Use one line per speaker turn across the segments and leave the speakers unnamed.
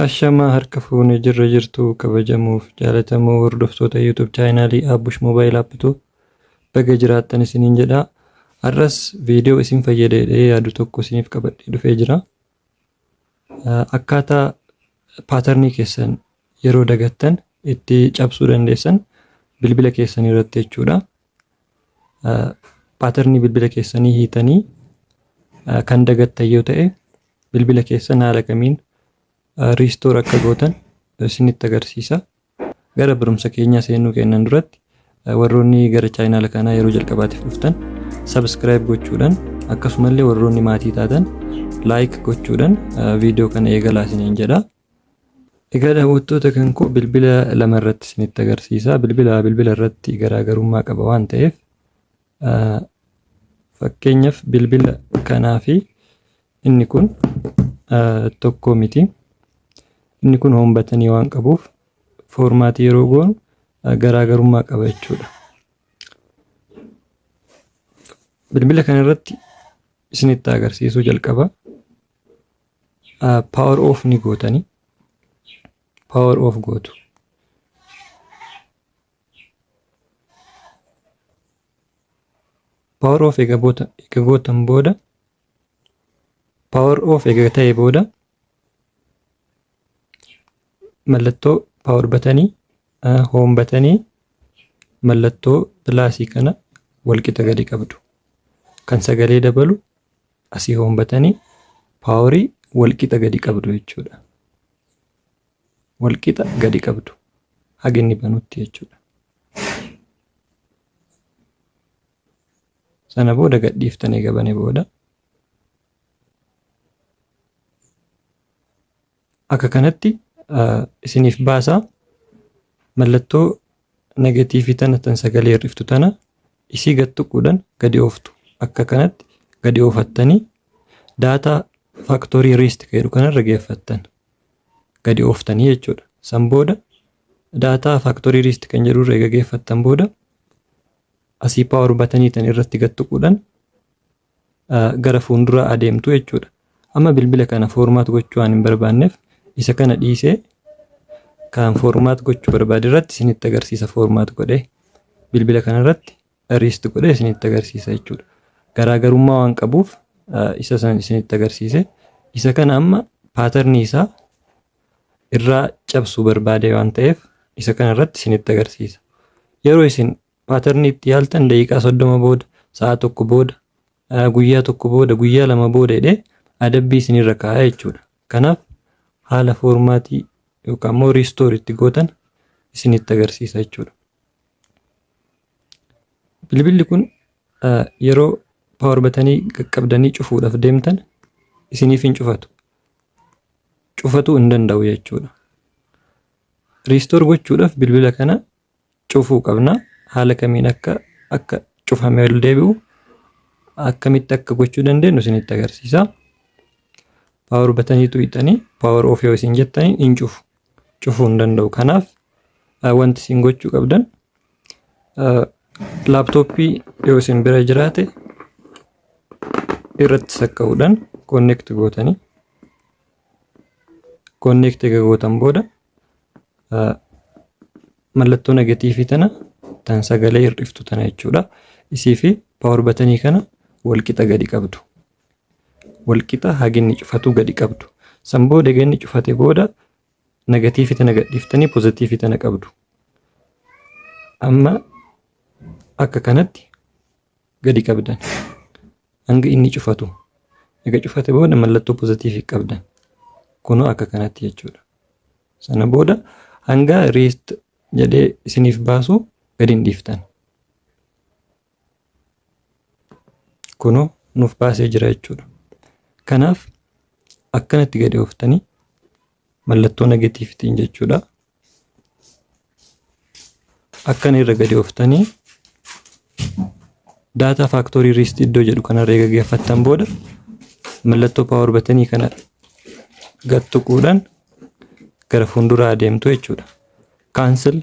Ashamaa harka fuune jirra jirtu kabajamuuf jaalatamoo hordoftoota YouTube chaayinaalii Abbush Mobile App tu baga jiraattan isiniin jedha. Har'as viidiyoo isin fayyada jedhee yaadu tokko isiniif qabadhee dhufee jira. Akkaataa paatarnii keessan yeroo dagattan itti cabsuu dandeessan bilbila keessan irratti jechuudha. Paatarnii bilbila keessanii hiitanii kan dagattan yoo ta'e bilbila keessan haala kamiin riistoor akka gootan isinitti agarsiisa. Gara barumsa keenyaa seenuu keennan duratti warroonni gara chaayinaala kanaa yeroo jalqabaatiif dhuftan sabiskiraayib gochuudhaan akkasumallee warroonni maatii taatan laayik gochuudhaan viidiyoo kana eegalaa isiniin jedha. Egaa daawwattoota kan koo bilbila lama irratti isinitti agarsiisa. Bilbila bilbila irratti garaagarummaa qaba waan ta'eef Fakkeenyaaf bilbila kanaa fi inni kun tokko miti. Inni kun hoom batanii waan qabuuf foormaatii yeroo goonu garaagarummaa qaba jechuudha. Bilbila kana irratti isinitti agarsiisuu jalqaba. Power off ni gootanii. Power off gootu. power of ega bota ega gotan boda power of ega ta'e boda mallattoo power batanii home batanii mallattoo pilaasii kana walqixa gadi qabdu kan sagalee dabalu asii home batanii paaworii walqixa gadi qabdu jechuudha. wal qixa gadi qabdu haga inni banutti jechuudha. Sana booda gadhiiftan eega bane booda akka kanatti isiniif baasaa mallattoo negatiivii tana tan sagalee hir'iftu tana isii gad tuquudhaan gadi ooftu akka kanatti gadi oofattanii daataa faaktorii riist jedhu kanarra geeffattan gadi ooftanii jechuudha. San booda daataa factory list kan jedhu irra eega geeffattan booda asii power batanii tan irratti gad tuquudhaan gara fuulduraa adeemtu jechuudha. Amma bilbila kana formaat gochuu waan hin barbaanneef isa kana dhiisee kan formaat gochuu barbaade irratti isinitti agarsiisa formaat godhee bilbila kana irratti erased godhee isinitti agarsiisa jechuudha. Garaagarummaa waan qabuuf isa san isinitti agarsiise. Isa kana amma paatarnii isaa irraa cabsuu barbaade waan ta'eef isa kana irratti isinitti agarsiisa. Yeroo isin paatarnii itti yaaltan daqiiqaa soddoma booda, sa'a tokko booda, guyyaa tokko booda, guyyaa lama booda jedhee adabbii isinirra kaa'a jechuudha. Kanaaf haala foormaatii yookaan immoo riistoor itti gootan isinitti agarsiisa jechuudha. Bilbilli kun yeroo power batanii qaqqabdanii cufuudhaaf deemtan isiniif hin cufatu. Cufatuu hin danda'u jechuudha. Riistoor gochuudhaaf bilbila kana cufuu qabna. Haala kamiin akka akka cufamee ol deebi'u akkamitti akka gochuu dandeenyu isinitti agarsiisa. Power bataniitu hidhanii power off yoo isin jettanii hin cufu. cufuu hin danda'u. Kanaaf wanti isin gochuu qabdan laaptooppii yoo isin bira jiraate irratti sakka'uudhaan konneekti gootanii konneekti egaa gootan booda mallattoo negatiivii tana tan sagalee hir'iftu tana jechuudha. Isii fi paawar batanii kana wal qixa gadi qabdu. wal qixa haginni cufatuu gadi qabdu san booda egaa inni cufate booda nagatiifi tana gadhiiftanii pozatiifi tana qabdu amma akka kanatti gadi qabdan hanga inni cufatu ega cufate booda mallattoo pozatiifi qabdan kunoo akka kanatti jechuudha sana booda hanga riist jedhee isiniif baasu gadi hin dhiiftan kunoo nuuf baasee jira jechuudha. Kanaaf akkanatti gadi ooftanii mallattoo negatiivitiin jechuudha. Akkana irra gadi ooftanii daataa faaktorii riist iddoo jedhu kanarra eega geeffattan booda mallattoo paawar batanii kana gad tuquudhaan gara fuulduraa adeemtu jechuudha. Cancel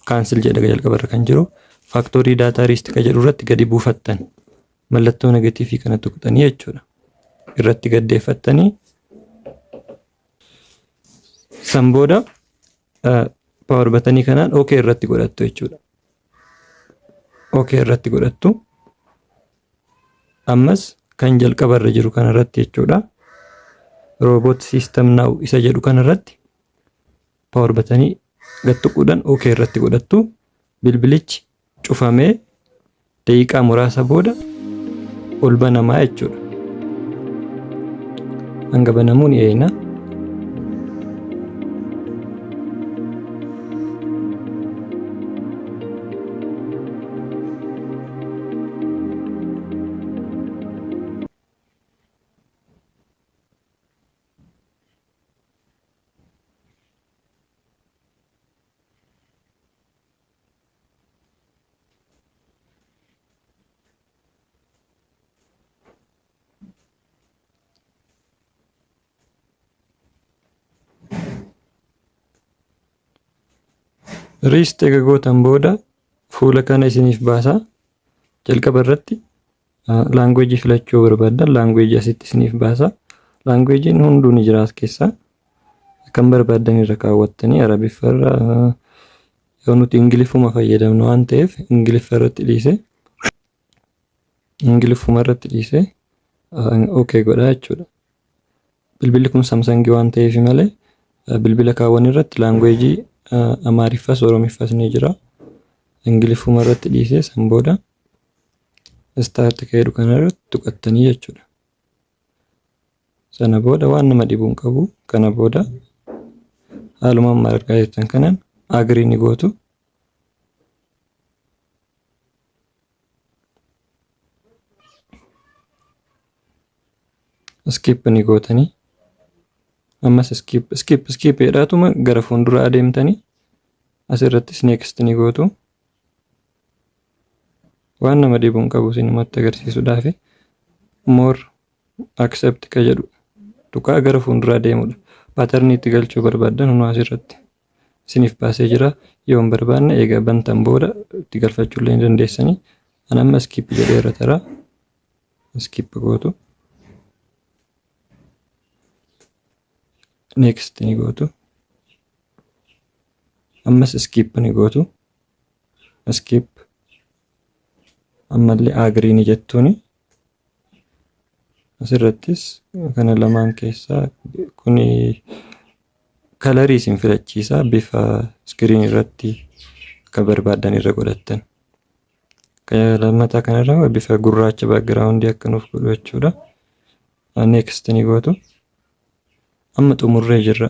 Cancel jedha jalqaba irra kan jiru factory data rest ka jedhu irratti gadi buufattan mallattoo negatiivii kana tuqxanii jechuudha. Irratti gaddeeffattanii san booda power batanii kanaan OK irratti godhattu jechuudha. OK irratti godhattu. Ammas kan jalqaba irra jiru kana irratti jechuudha. Robot system now isa jedhu kana irratti power batanii gad tuquudhaan OK irratti godhattu. Bilbilichi cufamee daqiiqaa muraasa booda ol banamaa jechuudha. Hanga banamuu ni eegna. Riist eega gootan booda fuula kana isiniif baasa. Jalqaba irratti Laanguweejii filachuu barbaaddan laanguweejii asitti isiniif baasa. Laanguweejiin hunduu ni jira as keessa. Kan barbaaddan irra kaawwattanii Arabiffa irra yoo nuti Ingiliffuma fayyadamnu waan ta'eef Ingiliffa irratti dhiise. Ingiliffuma irratti dhiise OK godha jechuudha. Bilbilli kun Samsangii waan ta'eef malee bilbila kaawwan irratti laanguweejii Amaariffas Oromiffas ni jira. Ingiliffuma irratti dhiise san booda start ka jedhu kana irratti tuqattanii jechuudha. Sana booda waan nama dhibu hin qabu. Kana booda haaluma amma argaa jirtan kanaan agree ni gootu. skip ni gootanii ammas skip skip skip jedhaatuma gara fuuldura adeemtanii asirrattis next ni gootu. waan nama dhibu hin qabu isinumatti agarsiisuudhaaf moor accept ka jedhu tuqaa gara fuulduraa deemudha paatarnii itti galchuu barbaaddan hunuu asirratti isiniif baasee jira yoo hin barbaanne eega bantan booda itti galfachuu illee ni dandeessanii an amma skip jedhee irra tara skip gootu next ni gootu ammas skip ni gootu skip ammallee agree ni jettuuni asirrattis kana lamaan keessaa kun kalarii isin filachiisa bifa iskiriin irratti akka barbaaddan irra godhattan lammataa kanarra bifa gurraacha background akka nuuf godhu jechuudha next ni gootu Amma xumurree jirra.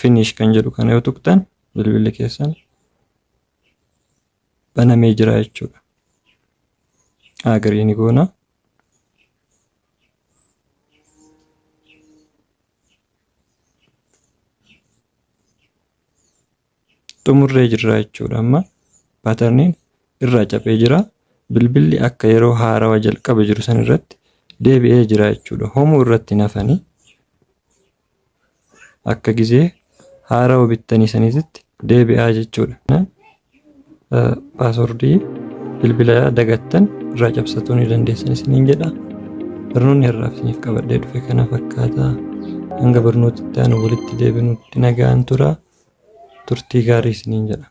Finish kan jedhu kana yoo tuqxan bilbilli keessan banamee jira jechuudha. Agarii ni goona. xumurree jirra jechuudha amma paatarniin irraa caphee jira bilbilli akka yeroo haarawa jalqaba jiru san irratti deebi'ee jira jechuudha homuu irratti nafanii akka gizee haarawa bittanii saniititti deebi'aa jechuudha Paaswordii bilbila dagattan irraa cabsatuu ni dandeessan isiniin jedha. Barnoonni har'aaf isiniif qabadhee dhufe kana fakkaata. Hanga barnoota itti aanu walitti deebinutti nagaan tura. Turtii gaarii isiniin jedha.